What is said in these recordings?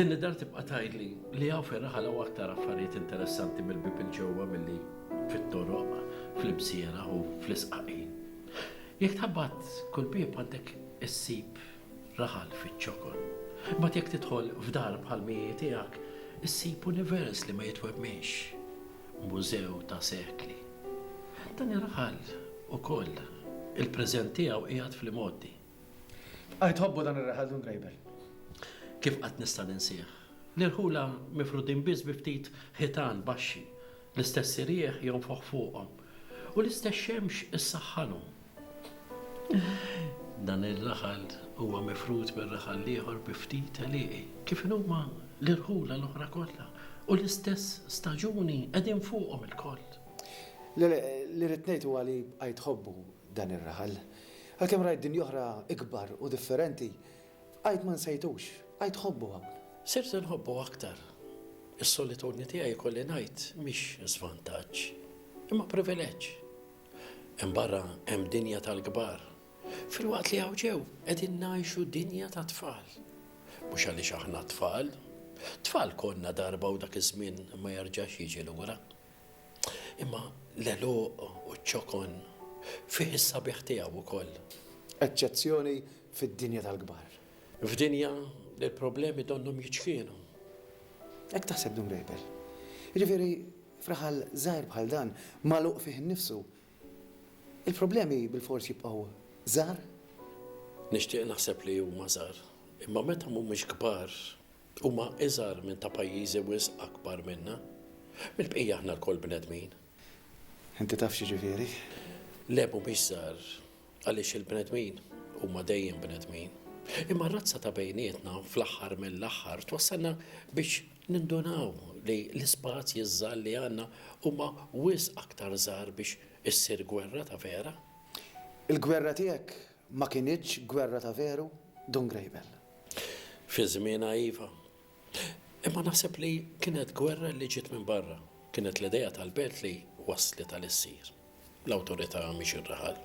Din id-dar tibqa' tgħidli li hawn fir-raħal hawn aktar affarijiet interessanti mill-bieb il-ġewwa milli fit-toroq, fl-imsiera u fl-isqaqin. Jekk tħabbat kull bieb għandek issib raħal fiċ-ċokon. Imbagħad jekk tidħol f'dar bħal mhi tiegħek, issib univers li ma jitwemminx, mużew ta' sekli. Dan ir-raħal ukoll, il-preżent tiegħu qiegħed fl-imgħoddi. Tbqajt tħobbu dan ir-raħal Dun Grejber? Kif qatt nista' ninsih? L-irħula mifrudin biss bi ftit ħitan baxxi L-istess irjieħ jonfoħ fuqhom u l-istess xemx issaħħanhom. Dan ir-raħal huwa mifrud mir-raħal l-ieħor bi ftit għelieqi, kif inhuma l-irħula l-oħra kollha, u l-istess staġuni qegħdin fuqhom ilkoll. Li rrid ngħid huwa li bqajt ħobbu dan ir-raħal. Għalkemm rajt dinja oħra ikbar u differenti, Għid ma nsejtux, għid ħobbu hawn. Sirt inħobbu aktar. Is-solitudni tiegħi jkolli ngħid mhix żvantaġġ, imma privileġġ. Hemm barra hemm dinja tal-kbar, filwaqt li hawn ġew qegħdin ngħixu dinja tat-tfal. Mhux għaliex aħna t-tfal. Tfal konna darba u dak iż-żmien ma jerġax jiġi lura. Imma l-għeluq u ċ-ċokon fih is-sabiħ tiegħu wkoll. Eċċezzjoni fid-dinja tal-kbar. F'dinja li l-problemi donnhom jiċkienu. Hekk taħseb Dun Grejpel. Jiġifieri f'raħal żgħir bħal dan, magħluq fih innifsu, il-problemi bilfors jibqgħu żgħar? Nixtieq naħseb li huma żgħar. Imma meta mhumiex kbar, Huma iżgħar minn ta' pajjiżi wisq akbar minna. Mill-bqija aħna lkoll bnedmin. Inti taf x'jiġifieri? Le mhumiex żgħar għaliex il-bnedmin huma dejjem bnedmin. Imma r-razza ta' bejnietna fl-aħħar mill-aħħar twassalna biex nindunaw li l-ispazji żgħar li għandna huma wisq aktar żgħar biex issir gwerra ta' vera. Il-gwerra tiegħek Ma kinitx gwerra ta' veru, Dun Grejbel? Fi żmienha iva. Imma naħseb li kienet gwerra li ġiet minn barra. Kienet l-idea tal-belt li wasslet għal issir l-awtorità mhix ir-raħal.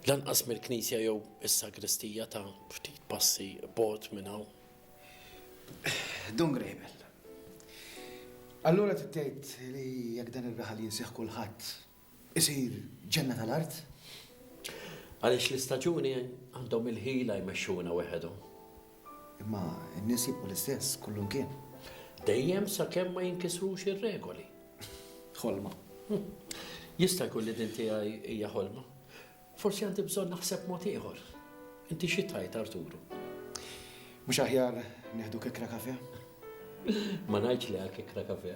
Lanqas mill-knisja jew is-sagristija ta' ftit passi bogħod minn hawn. Dun Grejbel, allura trid tgħid li jekk dan ir-raħal jinsieh kulħadd isir ġenna tal-art. Għaliex l-istaġuni għandhom il-ħila jmexxuna weħedhom. Imma n-nies jibqgħu l-istess kull imkien. Dejjem sakemm ma jinkisrux ir-regoli. Ħolma. Jista' jkun li din tiegħi hija ħolma. Forsi għandi bżonn naħseb mod ieħor. Inti xi tgħid Arturu? Mhux aħjar nieħdu kikra kafe? Ma ngħidx li għal kikra kafe.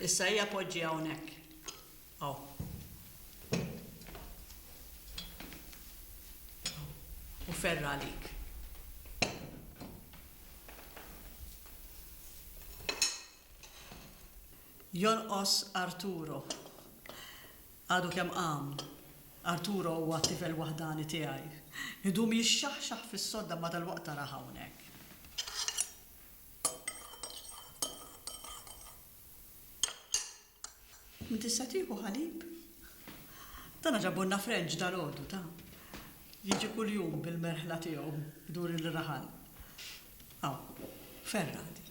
Issa hija poġġi hawnhekk. Aw. U ferra għalik. Jonqos Arturo. Għadu kemm qam. Arturo huwa t-tifel waħdani tiegħi. Idum jixxaħxaħ fis-sodda imma dalwaqt arah hawnhekk. Min tista' tieħu ħalib? Dana ġabulna Frenċ dalgħodu, ta. Jiġi kuljum bil-merħla tiegħu jdur il-raħal. Hawn. Ferra dik.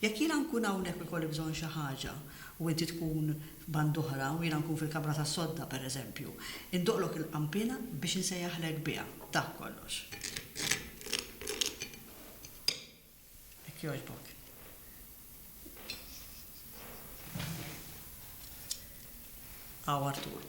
Jekk jiena nkun hawnhekk u jkolli bżonn xi ħaġa, u inti tkun f'band'oħra u jiena nkun fil-kamra tas-sodda, pereżempju, indoqqlok il-qanpiena biex insejjaħlek biha. Dak kollox. Jekk jogħġbok. Hawn Artur.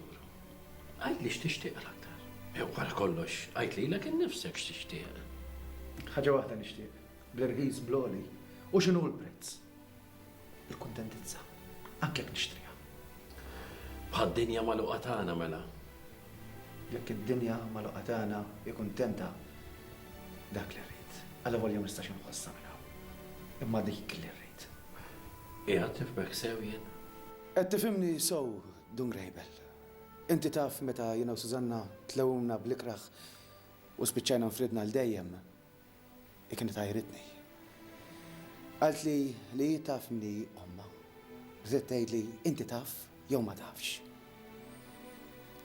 Għidli x'tixtieq l-aktar. Wara kollox, għid lilek innifsek x'tixtieq. Ħaġa waħda nixtieq, bl-irħis, bl-għoli, u x'inhu l-prezz? Il-kuntentizza, anke jekk nixtriha. Bħad-dinja magħluqa tagħna mela. Jekk id-dinja magħluqa tagħna hi kuntenta, dak li rrid. Allavolja ma nistax inħossha minn hawn. Imma dik li rrid. Qiegħed nifhmek sew jien? Qed tifhimni sew, Dun Grejbel, Inti taf meta jiena u Sużanna tlewmna bl-ikrah u spiċċajna nfridna għal dejjem, hi kienet għajritni. Qaltli li hi taf min hi ommha. Bdiet tgħidli inti taf jew ma tafx.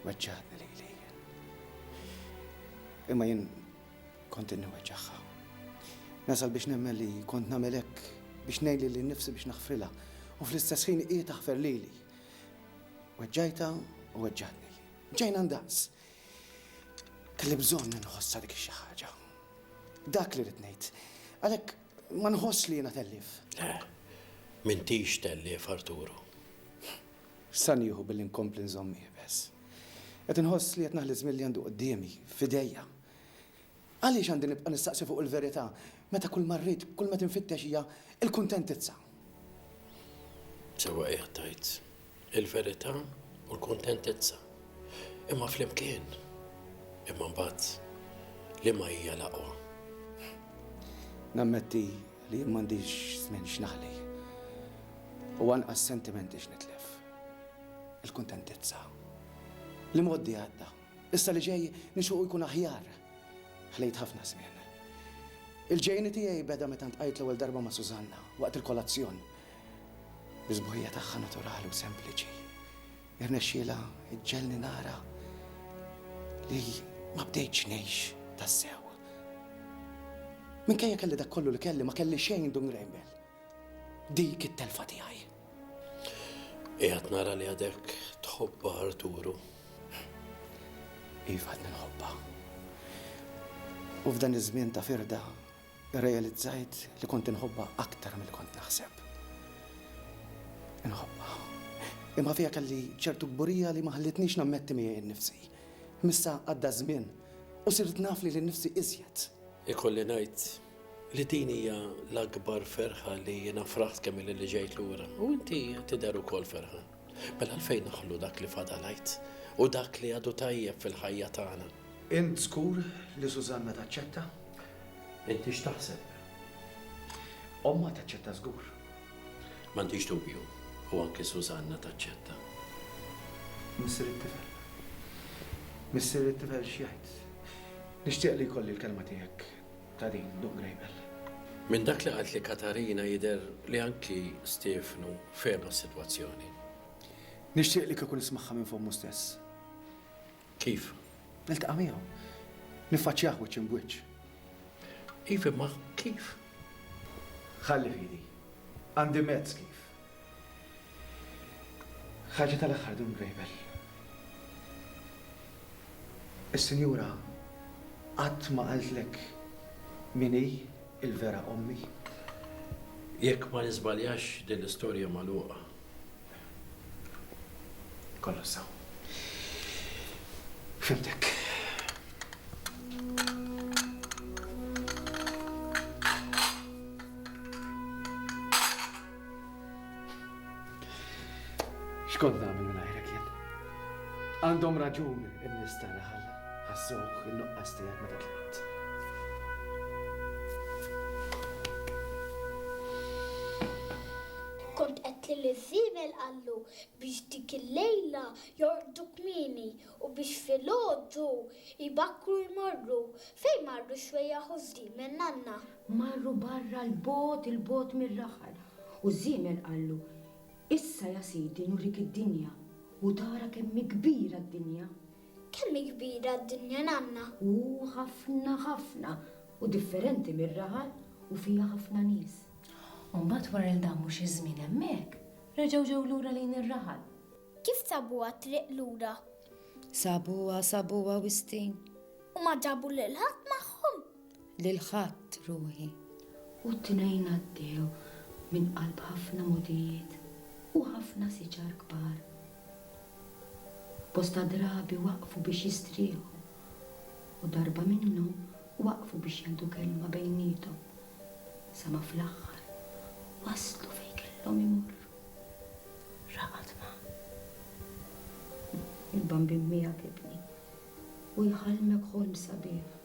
Weġġagħtni lili. Imma jien kont inni weġġagħha. Nasal biex nemmen li kont nagħmel hekk biex ngħin lili nnifsi biex naħfrilha u fl-istess ħin hi taħfer lili. Weġġajta u weġġatni. Ġejna ndaqs. Kelli bżonn nħossa dik xi ħaġa. Dak li rid ngħid. Għalhekk ma nħoss li jiena tellif. Le, m'intix tellif Arturu. Sa nieħu billi nkompli nżomm ibes. Qed inħoss li qed naħli żmien li għandu quddiemi, f'idejja. Għaliex għandi nibqa' nistaqsi fuq il-verità meta kull ma rrid, kull ma qed infittex hija l-kuntentizza? Sewwa qiegħed tgħid, il-verità u l-kuntentizza. Imma flimkien. Imma mbagħad liema hija l-aqwa? Nammetti li jien m'għandix żmien x'naħli u anqas sentimenti x'nitlef. Il-kuntentizza. L-imgħoddi għadda. Issa li ġej nixuqu jkun aħjar. Ħlejt ħafna żmien. Il-ġejjieni tiegħi beda meta ntqajt l-ewwel darba ma' Susanna waqt il-kolazzjon. Bis-sbuħija tagħha naturali u sempliċi, irnexxielha ġġegħelni nara li ma bdejtx ngħix tassew. Minkejja kelli dak kollu li kelli ma kelli xejn dun Graham Bell. Dik it-telfa tiegħi. Qiegħed nara li għadek tħobba Arturu. Iva għadni nħobba. U f'dan iż-żmien ta' firda, realizzajt li kont inħobba aktar mill kont naħseb. Inħobba. Imma fija kelli ċertu kburija li ma ħallitnix nammetti miegħi nnifsi. Missa għadda żmien u sirt naf li l-nifsi iżjed. Ikolli ngħid li din hija l-akbar ferħa li jiena fraħt kemm li ġejt lura u inti tidher ukoll ferħa. Mela għalfejn naħlu dak li fadalajt u dak li għadu tajjeb fil-ħajja tagħna. Int żgur li Susanna taċċetta? Inti x'taħseb? Ommha taċċetta żgur. M'għandix dubju, u anke Susanna taċċetta. Missier it-tifel. Missier it-tifel x'jgħid? Nixtieq li jkolli l-kelma tiegħek ta' din Dun Grejbel. Minn dak li qaltli Katarina jidher li anki Stiefnu fehemha s-sitwazzjoni. Nixtieq li kieku nismagħha minn fommu stess. Kif? Niltaqa' miegħu. Niffaċċjah wiċċ imb'wiċċ. Iva, imma kif? Ħalli fidi. Għandi mezz kif. Ħaġa tal-aħħar Dun Grejbel. Is-Sinjura qatt ma qaltlek min hi l-vera ommi? Jekk ma niżbaljax din l-istorja magħluqa. Kollox sew. Fhimtek. Xkont nagħmel minn għajrek jien? Għandhom raġun in-nies ta' raħal ħassuh in-nuqqas tiegħek meta tlaqt. Kont qed li l-żiebel qallu biex dik il-lejla jorqdu kmieni u biex filgħodu jbakkru jmorru fejn marru xwejjaħ u żdiemen nanna. Marru barra 'l bogħod 'il bogħod mir-raħal, u ż-żiemel qallu, Issa, ja sidi, nurrik id-dinja, u tara kemm hi kbira d-dinja. Kemm hi kbira d-dinja, nanna? Hu ħafna, ħafna, u differenti mir-raħal, u fiha ħafna nies. U mbagħad wara li damu xi żmien hemmhekk, reġgħu ġew lura lejn ir-raħal. Kif sabuha t-triq lura? Sabuha, sabuha, Wistin. U ma ġabu lil ħadd magħhom? lil ħadd ruħi. U t-tnejn għaddew minn qalb ħafna mogħdijiet u ħafna siġar kbar. Bosta drabi waqfu biex jistrieħu u darba minnhom waqfu biex jgħidu kelma bejniethom sa ma fl-aħħar waslu fejn kellhom imorru. Ra qatt ma. Il-Bambin miegħek ibni u jħallmek ħolm sabiħ.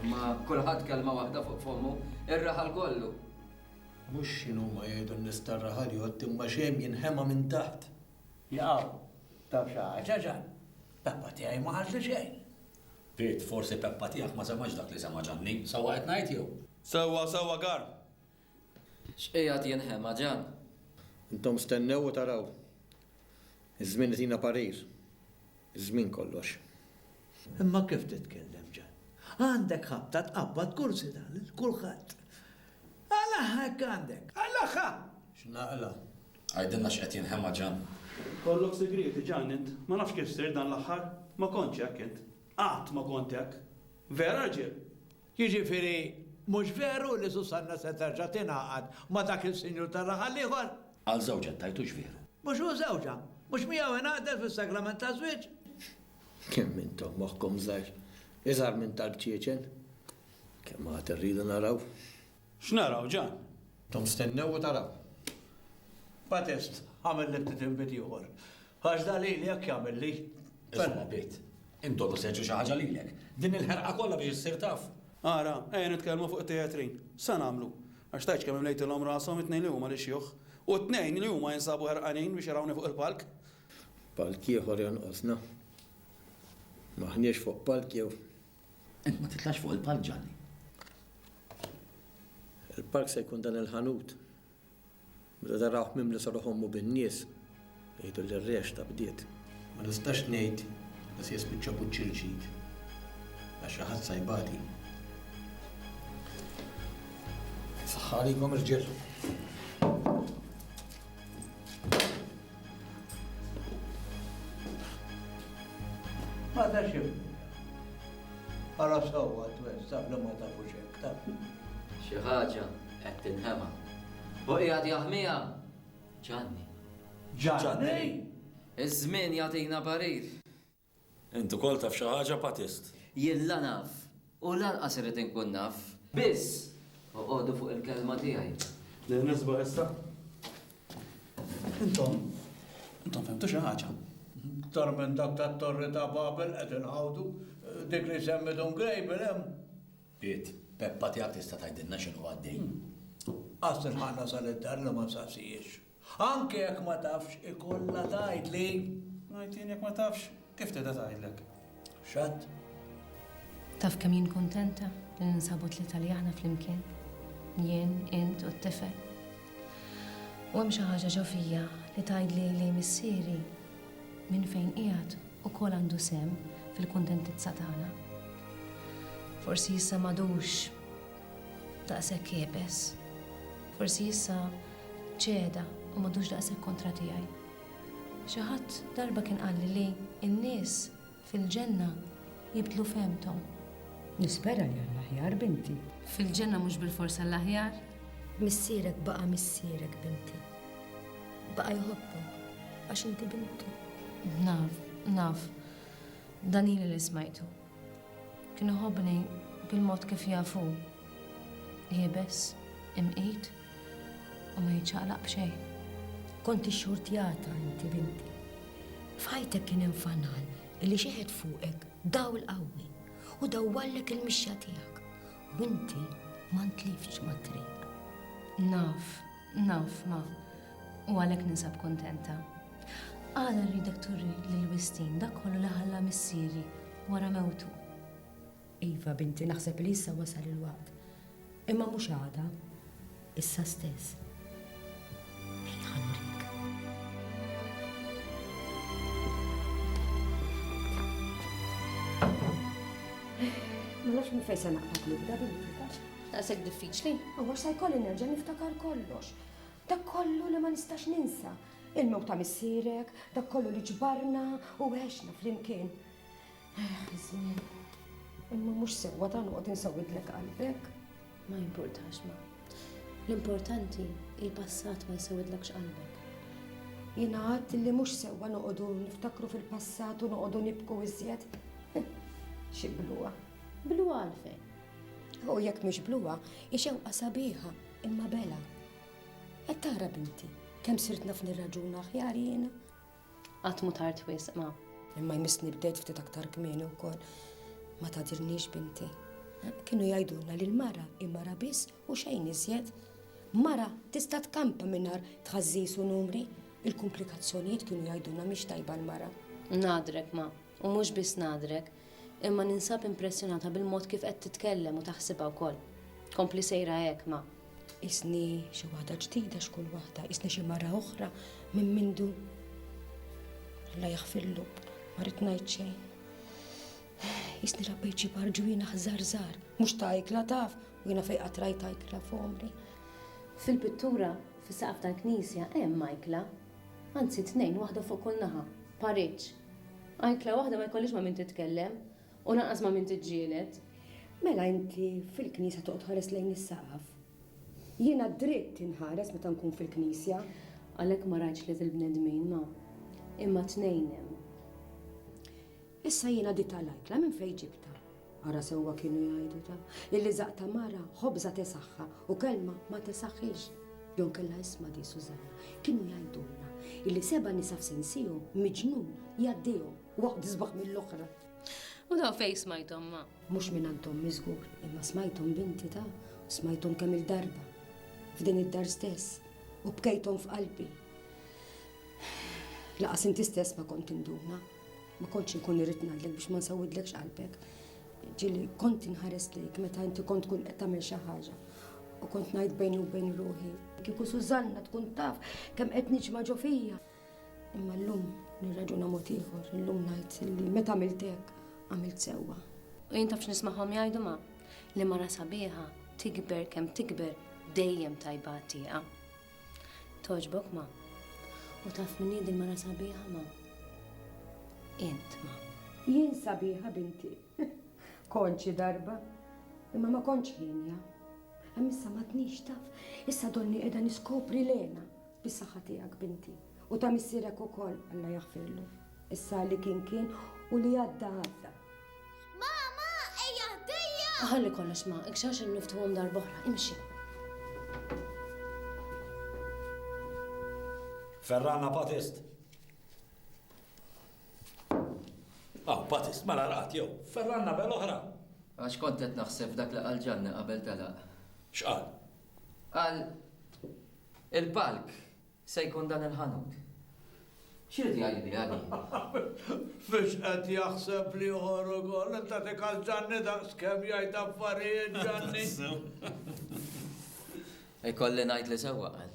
Imma kulħadd kelma waħda fuq fommu, ir-raħal kollu! Mhux x'inhuma jgħidu n-nies tar-raħal jgħodd imma x'hemm jinħema minn taħt! Jaqaw, taf xi ħaġa Ġan? Peppa tiegħi ma qaltli xejn! Piet, forsi Peppa tiegħek ma semgħetx dak li semgħa Ġanni. Sewwa qed ngħid jew? Sewwa, sewwa Karm! X'qiegħed jinħema ġenn? Intom stennew u taraw. Iż-żmien itina parir. Iż-żmien kollox. Imma kif titkellem ġenn? Għandek ħabta tqabbad kursi ta' lil kulħadd. Qlagħha jekk għandek! Qlagħha! X'naqla'? Għidilna x'qed jinħema ġenn. Kollok sigrieti ġenn int. Ma nafx kif sirt dan l-aħħar. Ma kontx hekk int. Qatt ma kont hekk. Vera rġiel? Jiġifieri mhux veru li Susanna se terġa' tingħaqad ma' dak il-sinjur tar-raħal l-ieħor? Għal żewġha ttajtux veru? Mhux hu żewġha? Mhux miegħu ingħaqdet fis-sagrament taż-żwieġ? Kemm intom moħħkom żgħir! Iżgħar minn talb ċiecen! Kemm għad irridu naraw! X'naraw, Ġan? Tom stennew u taraw. Patest, għamel li ftit inbid ieħor. Għax da lili jekk jagħmilli. Isma' bit. Induru seġġi xi ħaġa lilek. Din il-ħerqa kollha biex issir taf. Ara, ejja nitkellmu fuq it-tejatrin. Sa nagħmlu? Għax tgħidx kemm imlejtilhom rashom it-tnejn li huma l-ixjuħ. U t-tnejn li huma jinsabu ħerqanin biex jarawni fuq il-palk. Palk ieħor jonqosna. M'aħniex fuq palk jew? Int ma titlax fuq il-palk ġalli. Il-palk se jkun dan il-ħanut. Meta tarawh mimli sa ruħommu bin-nies, jgħidu li r-rexta bdiet. Ma nistax ngħid li se jispiċċa puċċ il-ġid għax xi ħadd sa jbati. Saħħa għalikom irġiel. Ma tax irbuta. Ara sewwa t-twez taf li ma tafux hekk, taf. Xi ħaġa qed tinħema. Hu qiegħed jaħmiha! Ġanni. Ġanni! Iż-żmien jagħtina parir. Int ukoll taf xi ħaġa, Patist? Jien la naf, u lanqas irrid inkun naf. Biss, oqogħdu fuq il-kelma tiegħi. Nien nisbaħ issa? Intom, intom fhimtu xi ħaġa? Iktar minn dak tat-Torri ta' Babel qed inħawdu. Dik li jsemmi Dun Grejbel hemm? Qiegħed, Peppa tiegħek tista' tgħidilna x'inhu għaddej? Qas ilħaqna sal-id-dar li ma nsaqsihiex. Anke jekk ma tafx, ikollha tgħidli. Ngħid jien jekk ma tafx, kif tedha tgħidlek? X'għadd? Taf kemm jien kuntenta li ninsabu tlieta li aħna flimkien. Jien, int u t-tifel. U hemm xi ħaġa ġo fija li tgħidli li missieri minn fejn qiegħed ukoll għandu sehem fil-kuntentizza tagħna. Forsi issa m'għadux Daqshekk iebes. Forsi issa ċeda u m'għadux daqshekk kontra tiegħi. Xi ħadd darba kien qalli li n-nies fil-ġenna jibdlu fehmthom. Nispera li għall-aħjar, binti. Fil-ġenna mhux bilfors għall-aħjar. Missierek baqa' missierek, binti. Baqa' jħobbok għax inti bintu. Naf, naf. Dan ili li smajtu. Kien iħobbni bil-mod kif jaf hu, iebes, imqit u ma jiċċaqlaq b'xejn. Kont ixxurtjata inti binti. F'ħajtek kien hemm fanal li xeħet fuqek dawl qawwi u dawwallek il-mixja tiegħek u inti ma ntliftx mat-triq. Naf Naf, ma. U għalhekk ninsab kuntenta. Għala rridek turi lil Wistin dak kollu li ħalla missieri wara mewtu? Iva, binti, naħseb li issa wasal il-waqt. Imma mhux għada. Issa stess. Ma nafx minn fejn se naqbad nibda bil Daqshekk diffiċli? Huwa sa jkolli nerġa' niftakar kollox. Dak kollu li ma nistax ninsa. Il-mewt ta' missierek, dak kollu li ġbarna u għexna flimkien. Eh, żmien. Imma mhux sewwa ta' noqgħod insawidlek qalbek. Ma jimpurtax ma. L-importanti il-passat ma jsawidlekx qalbek. Jiena għadt li mhux sewwa noqogħdu niftakru fil-passat u noqogħdu nibku iżjed. Xi bluha. Bluha għalfejn? U jekk mhix bluha, hi xewqa sabiħa, imma bela. Qed tara binti, kemm sirt naf nirraġun aħjar jiena. Qatt mu tard wisq ma. Imma jmissni bdejt ftit aktar kmieni wkoll. Ma tadirniex binti. Kienu jgħidulna li l-mara imara biss u xejn iżjed. Mara tista' tkampa mingħajr tħażżis u numri. Il-komplikazzjonijiet kienu jgħidulna mhix tajba l-mara. Nadrek ma, U mhux biss ngħadrek, imma ninsab impressjonata bil-mod kif qed titkellem u taħsibha wkoll. Kompli sejra hekk, ma. Qisni xi waħda ġdida x'kull waħda, qisni xi mara oħra minn mindu. Alla jaħfirlu, ma rrid ngħid xejn. Qisni rabbejt xi barġwina ħżar żgħar, mhux ta' ikla taf, u jiena fejqa trajta ikla f'għomri. Fil-pittura, fis-saqaf tal-knisja hemm ikla, anzi tnejn waħda fuq kull naħa, pariġġ. Ajkla waħda ma jkollhiex ma' min titkellem u lanqas ma' min tiġġieled. Mela inti fil-knisja toqgħod tħares lejn is-saqaf? Jiena dritt inħares meta nkun fil-knisja. Għalhekk ma rajtx li fil-bnedmin ma. Imma tnejn hemm. Issa jiena ditha l-ajkla minn fejn ġibtha? Ara sewwa kienu jgħidu ta', illi żaqq ta' mara ħobża tesaħħa u kelma ma tesaħħilx. Jew inkella isma' di Sużanna, kienu jgħidulna illi seba' nisa f'sensihom miġnun jgħaddihom, waħda isbaħ mill-oħra. U dawn fejn smajthom ma? Mhux mingħand ommi żgur, imma smajthom binti ta', u smajthom kemm-il darba, f'din id-dar stess, u bkejthom f'qalbi. Laqas inti stess ma kont tinduna. Ma kontx inkun irrid ngħidlek biex ma nsawidlekx qalbek. Ġieli kont inħares lejk meta inti kont tkun qed tagħmel xi ħaġa u kont ngħid bejni u bejn ruħi. Kieku Sużanna tkun taf kemm qed niġma' ġo fija. Imma llum nirraġuna mod ieħor, illum ngħid li meta għamilt hekk għamilt sewwa. U jien tafx nismagħhom jgħidu ma' li mara sabiħa tikber kemm tikber dejjem tajba għat-tieqa. Togħġbok ma. U taf min hi din mara sabiħa ma. Int ma. Jien sabiħa binti. Konċi darba. Imma ma konċ ħinja. Hemm issa ma tnix taf. Issa donni qiegħda niskopri lena bis-saħħa tiegħek binti. U ta' missierek ukoll Alla jaħfirlu. Issa li kien kien u li għadda għadda. Mama, ejja ħdejja! Ħalli kollox ma, ikxax il-niftuhom darbohra, imxi. Ferrana Patist. Ah, Patist, mela raqt jew. Ferrana bel oħra. Għax kont qed naħseb dak li qal ġanni qabel telaq. X'qal? Qal il-palk Se jkun dan il-ħanut. X'irid jgħid biha din? Mhux qed jaħseb l-ieħor ukoll? Int tagħtik għal Ġanni daqskemm jgħid affarijiet Ġanni. Ikolli ngħid li sewwa qal.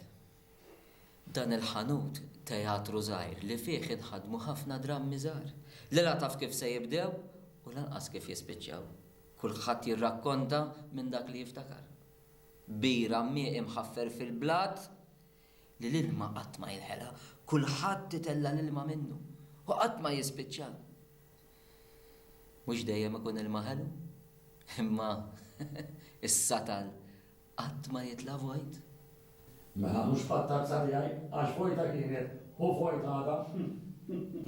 Dan il-ħanut teatru żgħir li fih inħadmu ħafna drammi żgħar li la taf kif se jibdew u lanqas kif jispiċċaw. Kulħadd jirrakkonta minn dak li jiftakar. Bira mieqi mħaffer fil-blat li l-ilma qatt ma jinħela, kulħadd itella' l-ilma minnu u qatt ma jispiċċa. Mhux dejjem ikun ilma ħelu, imma is-satal qatt ma jitla' vojt. Mela mhux fattazza tiegħi, għax vojta kienet u vojt għadha.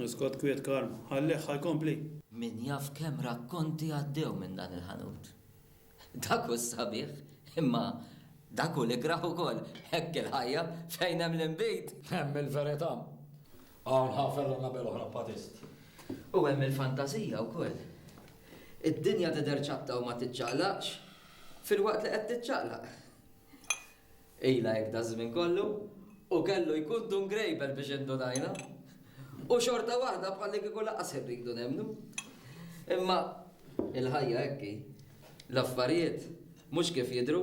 Iskot kwiet Karm, ħallih ħa jkompli. Min jaf kemm rakkonti għaddew minn dan il-ħanut. Dak hu s-sabiħ, imma dak hu l-ikrah ukoll. Hekk il-ħajja, fejn hemm l-inbid. Hemm il-verità. Hawn ħa fergħa nagħbel oħra b'patist. U hemm il-fantażija wkoll. Id-dinja tidher ċatta u ma tiċċaqlaqx, filwaqt li qed tiċċaqlaq. Ilha hekk daż-żmien kollu, u kellu jkun dun grejbel biex indunajna. U xorta waħda bħallikieku lanqas irridu nemmnu. Imma il-ħajja hekk hi. L-affarijiet mhux kif jidhru.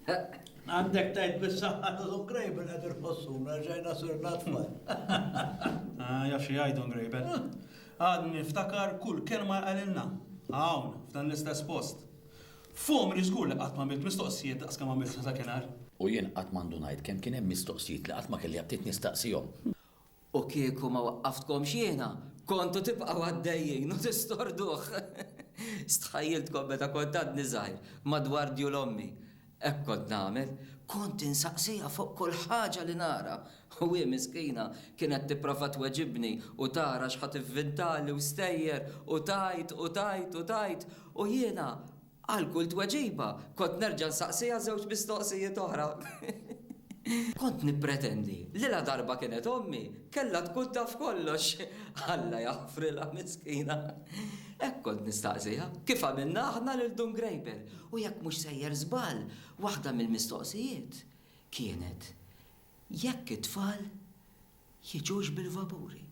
Għandek tgħid bis-saħħa ta' dun grejbel qed irħossuna reġgħajna sirna tfal. Jaf xi jgħid dun grejbel. Għadni niftakar kull kelma li qalilna, hawn, f'dan l-istess post. F'għomri żgur li qatt m'għamilt mistoqsijiet daqs kemm għamilt sa dakinhar. U jien qatt ma ndunajt kemm kien hemm mistoqsijiet li qatt ma kelli aptit nistaqsihom. U kieku ma waqqaftkomx jiena, kontu tibqgħu għaddejjin u tistorduh. Stħajjiltkom meta kont għadni żgħir, madwar djul ommi, hekk kont nagħmel, kont insaqsiha fuq kull ħaġa li nara, U hi miskina kienet tipprova tweġibni u tara x'ħa tivvintali u stejjer u tgħid u tgħid u tgħid u jiena għal kull tweġiba kont nerġa' nsaqsiha żewġ mistoqsijiet oħra. Kont nippretendi li ladarba kienet ommi kellha tkun taf kollox. Alla jaħfrilha miskina. Hekk kont nistaqsiha kif għamilna aħna lil Dun Grejber u jekk mhux sejjer żball waħda mill-mistoqsijiet kienet Jekk it-tfal jiġux bil-vapuri.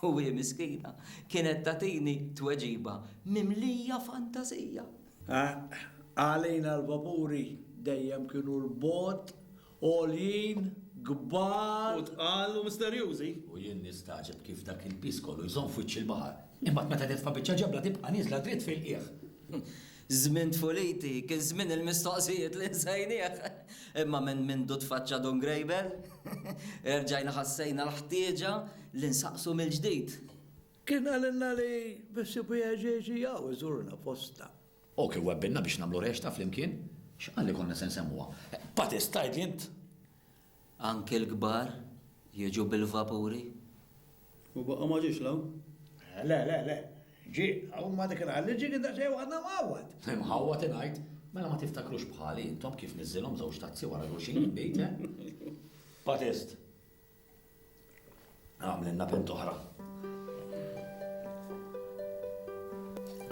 U hi miskina kienet tagħtini tweġiba mimlija fantażija. Għalina l-vapuri dejjem kienu 'l bogħod, għoljin, kbar. U tqal u misterjużi. U jien nistagħġeb kif dak il-piż kollu jżomm f'wiċċ il-baħar, imbagħad meta titfa' biċċa ġebla tibqa' nieżla dritt fil-qiegħ. Żmien Tfuliti kien żmien il-mistoqsijiet li nsejnieh. Imma minn mindu tfaċċa Dun Grejbel, erġajna ħassejna l-ħtieġa li nsaqsu mill-ġdid. Kien qalilna li bessiebu jgħeġġeġ jgħu jżurna fostna. Hu kien wegbilna biex nagħmlu rexta flimkien. X'qal li konna se nsemmuha? Patist, tgħidli int? Anki l-kbar jiġu bil-vapuri? U baqa' ma ġiex 'l hawn? Le, le, le. Ġie. U ma dik il-ħadd li ġie kien daqsxejn waħedna mħawwad. Imħawwad ingħid? Mela ma tiftakrux bħali intom kif niżżilhom żewġ tazzi wara xulxin il-bejt, eh? Patist. Għamlilna bint oħra.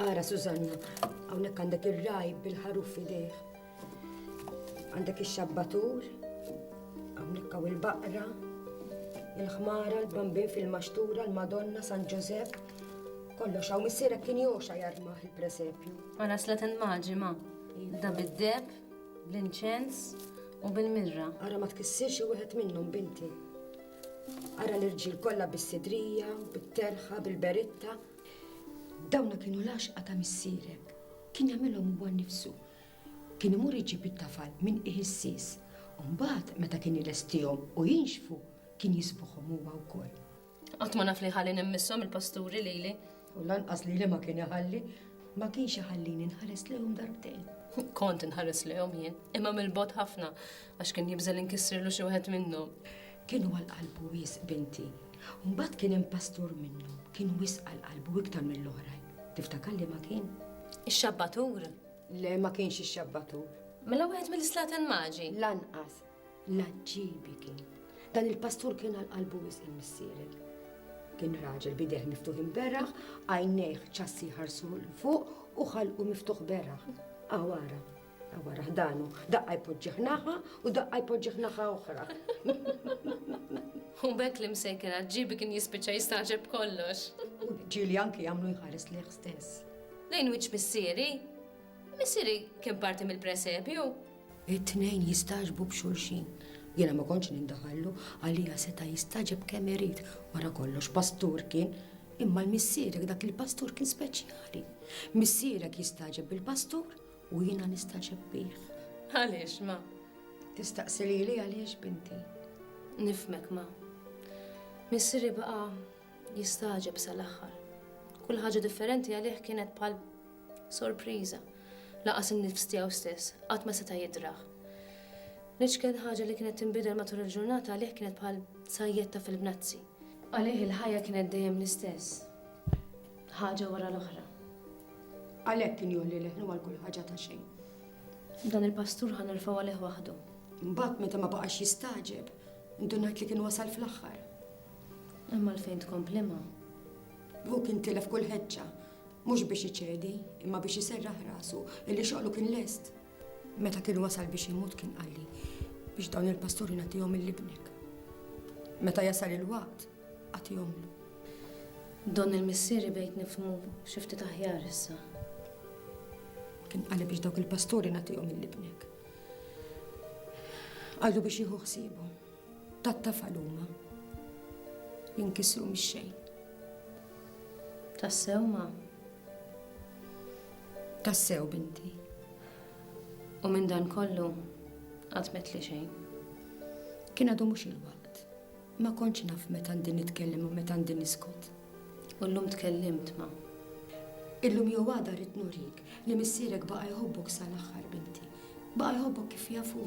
Ara, Susanna, hawnhekk għandek ir-raj bil-ħaruf fidejh. Għandek ix-xabbatur, hawnhekk hawn il-baqra, il-ħmara, l-bambin fil-maxtura, l-Madonna, San Ġożef. Kollox hawn missierek kien joxa jarmaħ il-presepju. Ma naslet il-maġi ma. Da bid-deb, bl-inċens u bil-mirra. Ara ma tkissirx xi wieħed minnhom, binti. Ara l-irġiel kollha bis-sidrija, bit-terħa, bil-beritta. Dawna kienu l-għaxqa ta' missierek. Kien jagħmilhom huwa nnifsu. Kien imur iġib it-tafal minn qiegħ is-sis. Mbagħad meta kien ilestihom u jinxfu, kien jisbuħhom huwa wkoll. Qatt ma naf li ħalli nimmissom il-pasturi lili. U lanqas lili ma kien iħalli, ma kienx iħallini nħares lehom darbtejn. Kont inħares lehom jien, imma mill-bot ħafna għax kien jibżel inkissirlu xi wieħed minnhom. Kienu għal qalbu wis binti. Mbagħad kien hemm pastur minnhom, kien wis għal qalbu iktar mill-oħrajn. Tiftakar li ma kien? Ix-xabbatur. Le ma kienx ix-xabbatur. Mela wieħed mill-islaten maġi. Lanqas, L-għaġġiebi kien, dan il-pastur kien għal qalbu wisq il-missieri. Kien raġel bidejh miftuħin beraħ, għajnejh ċassi ħarsu l-fuq u ħalqu miftuħ beraħ. Għawara, għawara ħdanu, daqqa jpoġġiħ naħa u daqqa jpoġġiħ naħa oħra. U bekk li msej kien għaġġiebi kien jispiċċa jistaġeb kollox. U ġili anki jagħmlu jħares liħ stess. Lejn wiċċ missieri? Missieri kien parti mill-presepju? It-tnejn jistagħġbu b'xulxin. Jiena ma kontx nindaħallu, għalija seta' jistagħġeb kemm irid, wara kollox pastur kien. Imma l-missierek dak il-pastur kien speċjali. Missierek jistagħġeb bil-pastur u jiena nistagħġeb bih. Għaliex, ma? Tistaqsi lili għaliex binti? Nifmek, ma. Missieri baqa' jistagħġeb sal-aħħar. Kull ħaġa differenti għalih kienet bħal sorpriża. Laqas in-nifs tiegħu stess qatt ma seta' jidrah. L-iċken ħaġa li kienet tinbidel matul il-ġurnata għalih kienet bħal sajjetta fil-bnazzi. Għalih il-ħajja kienet dejjem l-istess. Ħaġa wara l-oħra. Għalhekk kien jolli leħnu għal kull ħaġa ta' xejn. Dan il-pastur ħan irfaw għalih waħdu. Mbagħad meta ma baqax jistaġeb, indunajt li kien wasal fl-aħħar. Hemm għalfejn tkompli ma. Hu kien tilef kull ħeġġa, mhux biex iċedi, imma biex iserraħ rasu, illi xoqlu kien lest. Meta kien wasal biex imut kien qalli biex dawn il-pasturi nagħtihom il-libnek. Meta jasal il-waqt, għatihomlu. Don il-missieri bejt nifmu xifti taħjar issa. Kien qalli biex dawk il-pasturi nagħtihom il-libnek. Għallu biex jieħu ħsiebu. Tat-tafal huma li nkisru mix-xejn. Tassew ma. Tassew binti. U minn dan kollu għatmet li xejn. Kien għadu mhux il-waqt. Ma kontx naf meta għandi nitkellem u meta għandi niskot. U llum tkellimt ma. Illum jew għada rrid nurik li missierek baqa' jħobbok sal-aħħar binti. Baqa' jħobbok kif jafu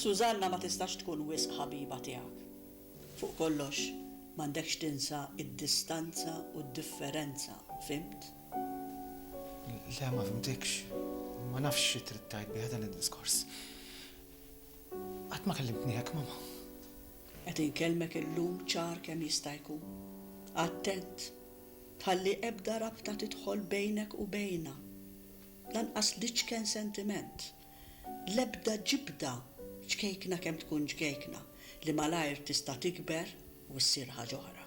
Susanna ma tistax tkun wisq ħabiba tiegħek. Fuq kollox, m'għandekx tinsa d-distanza u d-differenza, fhimt? Le, ma fimtekx. Ma nafx xi trid tgħid bih dan id-diskors. Qatt ma kellimtni hekk, Mama. Qed inkellmek illum ċar kemm jista' jkun. Attent, tħalli ebda rabta tidħol bejnek u bejna. Lanqas l-iċken sentiment, l-ebda ġibda, ċkejkna kemm tkun ċkejkna, li malajr tista' tikber u ssir ħaġ'oħra.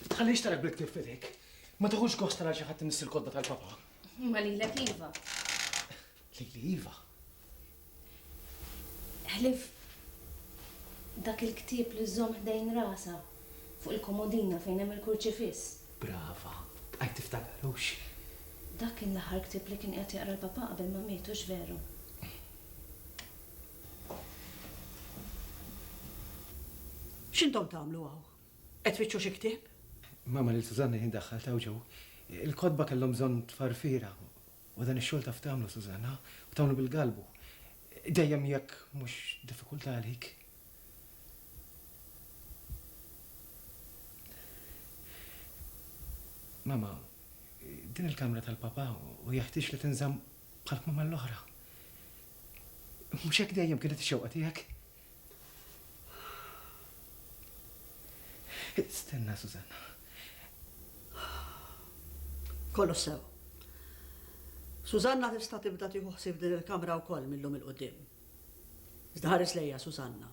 Ma tħallix tarek bil-ktieb f'idejk. Ma tieħux gost tara xi ħadd imiss il-kotba tal-Papa. Imma lilek iva. Lili iva. Ħlief dak il-ktieb li żżomm ħdejn rasha fuq il-komodina fejn hemm il-kurċifiss. Brava, bqajt tiftakar, hux? Dak kien l-aħħar ktieb li kien qiegħed jaqra l-Papa qabel ma miet, hux veru? X'intom tagħmlu hawn? Qed tfittxu xi ktieb? Mama lil Susanna jien daħħaltha hawn ġew. Il-kotba kellhom bżonn tfarfira u dan ix-xogħol taf tagħmlu Susanna, u tagħmlu bil-galbu. Dejjem jekk mhux diffikultà għalik. Mama, din il-kamra tal-Papa u jeħtieġ li tinżamm bħall-kmamar l-oħra. Mhux hekk dejjem kienet ix-xewqa tiegħek? Stenna, Susanna. Kollox sew. Susanna tista' tibda tieħu ħsieb din il-kamra wkoll millum il-qudiem. Iżda ħares lejja Susanna.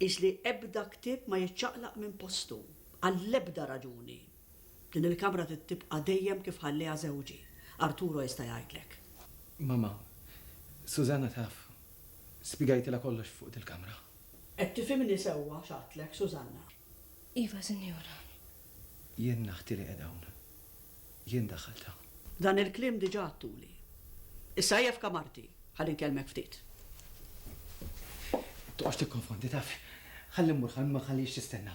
Isli ebda ktieb ma jiċċaqlaq minn postu għall-ebda raġuni. Din il-kamra trid tibqa' dejjem kif ħallieha żewġi. Arturo jista' jgħidlek. Mamma, Susanna taf. Spjegajtilha kollox fuq dil-kamra. Qed tifhimni sewwa x'għadtlek, Susanna? Iva, Sinjura. Jien naħti li qiegħda hawn. Jien daħħaltha. Dan il-kliem diġà għadtuli. Issa ejja f'kamarti ħalli nkellmek ftit. Toqgħodx tikkonfondi, taf. Ħalli mmur ħalli ma nħallihiex tistenna.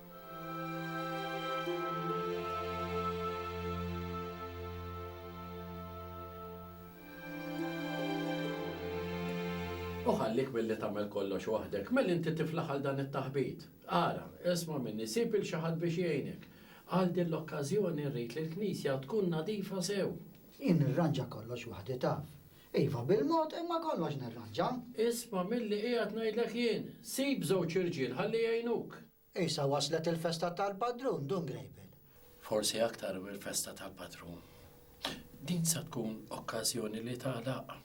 U ħallik milli tagħmel kollox waħdek, mel inti tiflaħ għal dan it-taħbit. Ara, isma' minni, sib il xi ħadd biex jgħinek. Għal din l-okkażjoni rrid li l-knisja tkun nadifa sew. Jien nirranġa kollox waħdi taf. Iva, bil-mod, imma kollox nirranġa. Isma' milli qiegħed ngħidlek jien, sib żewġ irġiel ħalli jgħinuk. Issa waslet il-festa tal-padrun, Dun Grejbiel. Forsi aktar mill-festa tal-padrun, din sa tkun okkażjoni li tagħlaq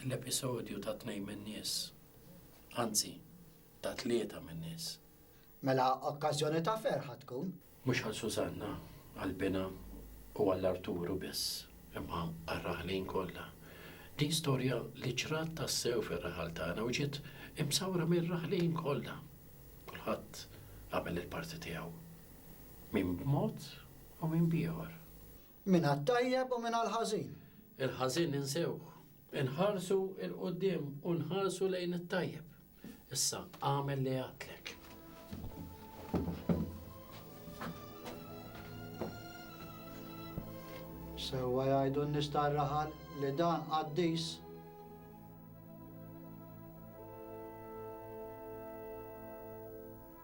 l-episodju ta' tnejn min-nies, anzi, ta' tlieta min-nies. Mela okkażjoni ta' ferħ ħa tkun. Mhux għal Sużanna, għal binha u għal Arturu biss, imma għar-raħlin kollha. Din storja li ġrat tassew fir-raħal tagħna u ġiet imsawra mir-raħlin kollha. Kulħadd għamel il-parti tiegħu, min b'mod u min b'ieħor. Mingħat-tajjeb u mingħall-ħażin. Il-ħażin insewh. Inħarsu 'l quddiem u nħarsu lejn it-tajjeb. Issa, agħmel li għadtlek. Sewwa jgħidu n-nies tar-raħal li dan qaddis.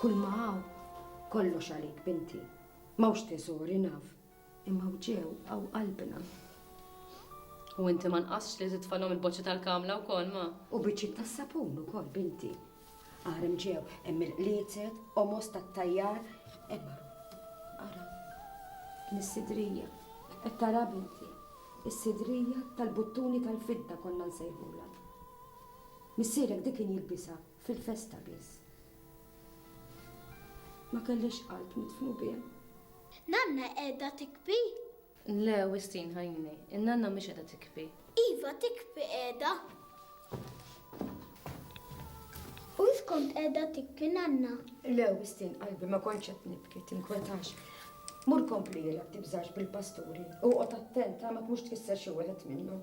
Kull ma hawn, kollox għalik binti. M'hawnx teżori naf, imma hawn ġew hawn qalbna. U inti ma nqasx li titfalhom il-boċċi tal-kamla wkoll ma. U biċċiet tas-sapun ukoll binti. Aħrem ġew hemm il-qliezet, omos tat-tajjar, hemm ara mis-sidrija. Qed tara binti. Is-sidrija tal-buttuni tal-fidda konna nsejħulha. Missierek dik kien jilbisha fil-festa biss. Ma kellix qalb nidfnu bih. Nanna qiegħda tikbi? Le, Wistin ħajni, in-nanna mhix qiegħda tikbi. Iva tikbi qiegħda. U int kont qiegħda tibki nanna? Lew, mistin qalbi ma kontx qed nibki, tinkwetax. Mur kompli jilgħab tibżax bil-pasturi u qgħod attent ma tmux tkisser xi wieħed minnhom.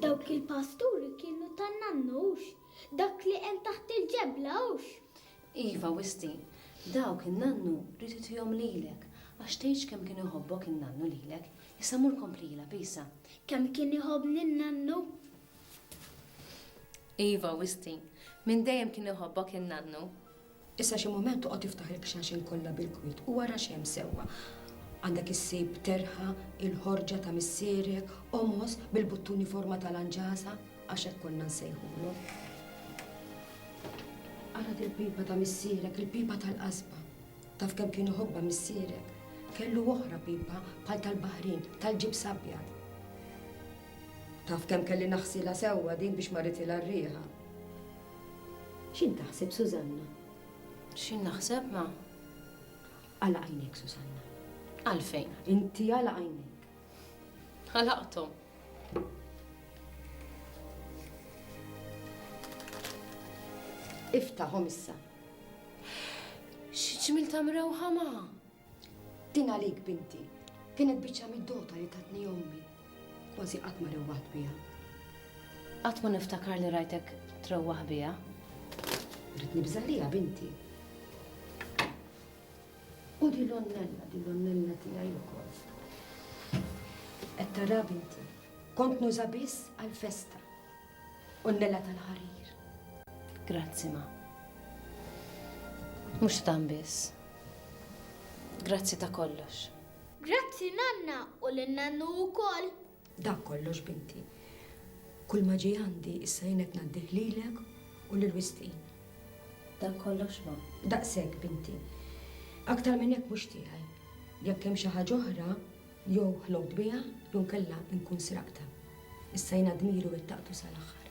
Dawk il-pasturi kienu tan-nannux, dak li hemm taħt il-ġebla hux. Iva, Wisti, dawk in-nannu rrid itihom lilek, għax tgħidx kemm kien iħobbok in-nannu lilek. Issa mur kompli ilgħab, Isa. Kemm kien iħobbni n-nannu? Iva, Wisti, minn dejjem kien iħobbok in-nannu. Issa xi mument toqgħod tiftaħ il-qxaxen kollha bil-kwiet u ara x'hemm sewwa. Għandek issib terħa, il-ħorġa ta' missierek, qomos bil-buttuni forma ta' lanġasa, Għax hekk konna nsejħulhom. Ara dil pipa ta' missierek, il-pipa tal-qasba. Taf kemm kien iħobba missierek? Kellu oħra pipa bħal tal-baħrin, tal-ġib sabja. Taf kemm kelli naħsila sewwa din biex ma ritila r-riħa. X'in taħseb Susanna? X'in naħseb ma? Għala għajnek Susanna. Għalfejn? Inti għala għajnek. Ħalaqthom. Iftaħhom issa. X'ġmil ta' mrewħa ma? Din għalik binti, kienet biċċa mid-dota li tatni ommi. Kważi qatt ma rewwaħt biha. Qatt ma niftakar li rajtek trewwaħ biha. Rid nibżalija binti. U di l-onnella, di l-onnella tiegħi wkoll. Qed tara binti, kont nuża biss għall-festa. Onnella tal-ħarir. Grazzi ma. Mhux tan biss. Grazzi ta' kollox. Grazzi nanna u lil nannu wkoll. Dak kollox binti. Kulma ġej għandi issa jien qed ngħaddih lilek u lil Wistin. Dak kollox mom? Daqshekk binti. Aktar minn hekk mhux tiegħi. Jekk hemm xi ħaġa oħra, jew ħlogt biha jew inkella nkun sraqtha. Issa jiena dmiri wettaqtu sal-aħħar.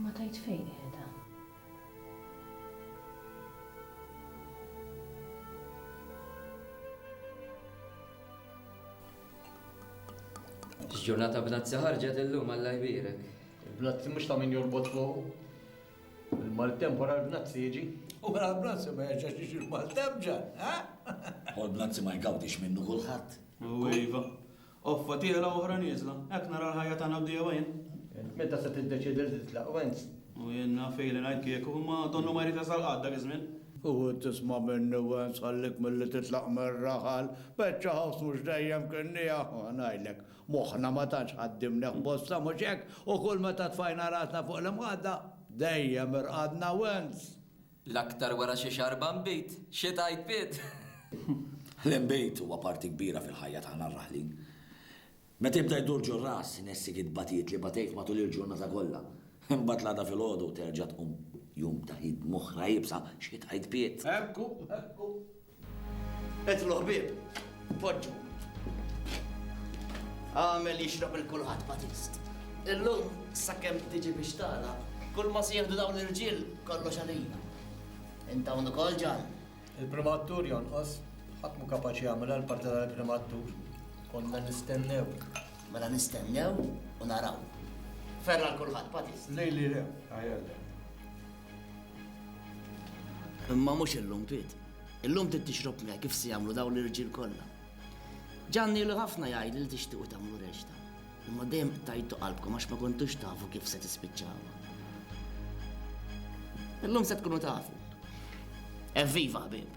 Ma tajt fejn qiegħda. X'ġurnata bnazzi ħarġet illum Alla jbierek. Il-bnazzi mhux ta' min jorbot fuq. Il-maltemp wara l-bnazzi jiġi? U wara l-bnazzi ma jerġax jiġi l-maltemp, Ġan, eh? U l-bnazzi ma jgawdix minnu kulħadd. U iva. Offa tiela' oħra nieżla. Hekk nara l-ħajja tagħna bdiewa jien. Int meta se tiddeċiedi li titlaq, Wenz? U jien naf ili ngħid kieku, imma donnu ma jrid jasal qatt dak iż-żmien. U int tisma' minni, Wenz, ħallik milli titlaq mir-raħal. Beċċa ħoss mhux dejjem kien nieqaf, ngħidlek. Moħħna ma tantx qaddimnieh bosta, mhux hekk? U kull meta tfajna rasna fuq l-imħadda, dejjem irqadna wens. L-aktar wara xi xarba nbid. Xi tgħid Piet? L-inbid huwa parti kbira fil-ħajja tagħna r-raħlin. Meta jibda jdur ġur-ras, inessik il-batijiet li batejt matul il-ġurnata kollha. Imbagħad l-għada filgħodu terġa' tqum jum ta' ħidma oħra iebsa, xi tgħid Piet? Hekk hu, hekk hu. Edlu ħbieb, poġġu. Għamel jixrab il-kulħadd Batist. Illum, sakemm tiġi biex tala, kull ma sieħdu dawn l-irġiel kollox għalina. Inta undu kol ġan. Il-primattur jonqos, ħatmu kapaċi għamela l-parti tal-primattur. Konna nistennew. Mela nistennew u naraw. Ferra l-kulħat, patis. Lej li le, għajalla. Imma mhux illum Piet. Illum trid tixrob miegħi kif se jagħmlu dawn l-irġiel kollha. Ġanni ilu ħafna jgħidli li tixtiequ tagħmlu reċta. Imma dejjem tajtu qalbkom għax ma kontux tafu kif se tispiċċawha. Illum se tkunu tafu. Evviva ħbieb!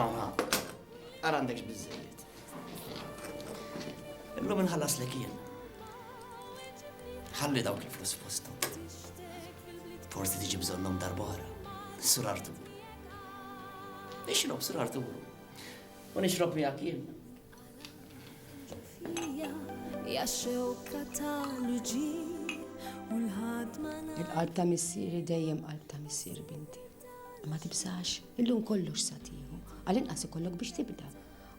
Aha, għara għandek x'biżżejjed. Illum inħallas li kien. Ħalli daw kif l fosthom. Forsi tiġi bżonnhom darba oħra. Sur Artur. Nixrob Sur Artur. U nixrob miegħek jien. Il-qalb ta' missieri dejjem qalb ta' missier binti. Ma tibżax, illum kollox sa tieħu, għall-inqas ikollok biex tibda.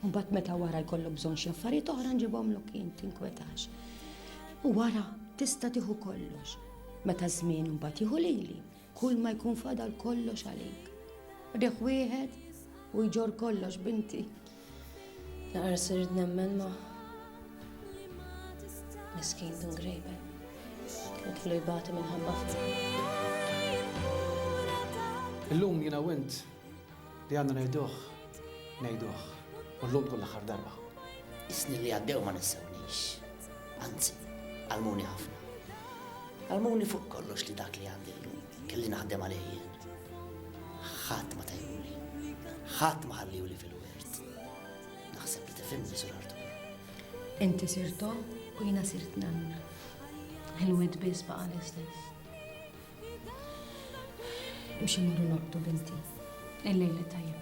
Mbagħad meta wara jkollok bżonn xi affarijiet oħra nġibhomlok jien tinkwetax. U wara tista' tieħu kollox. Meta żmien mbagħad jieħu lili, kull ma jkun fadal kollox għalik. Riħ wieħed u jġor kollox binti. Naqra sirt nemmen ma miskin Dun Grejben. Kien kellu jbati minħabba Illum jiena u int li għandna ngħiduh, ngħiduh, u llum tkun l-aħħar darba. Is-snin li għaddew ma nissewniex, anzi, għalmuni ħafna. Għalmuni fuq kollox li dak li għandi llum. Kelli naħdem għalih jien. Ħadd ma tajhuli. Ħadd ma ħalliuli fil-wirt. Naħseb li tifhimni sur Artur. Inti sirt omm u jiena sirt nanna. Il-wid biss baqa' l-istess. Imxi morru nobtu binti. Il-lejli tajjeb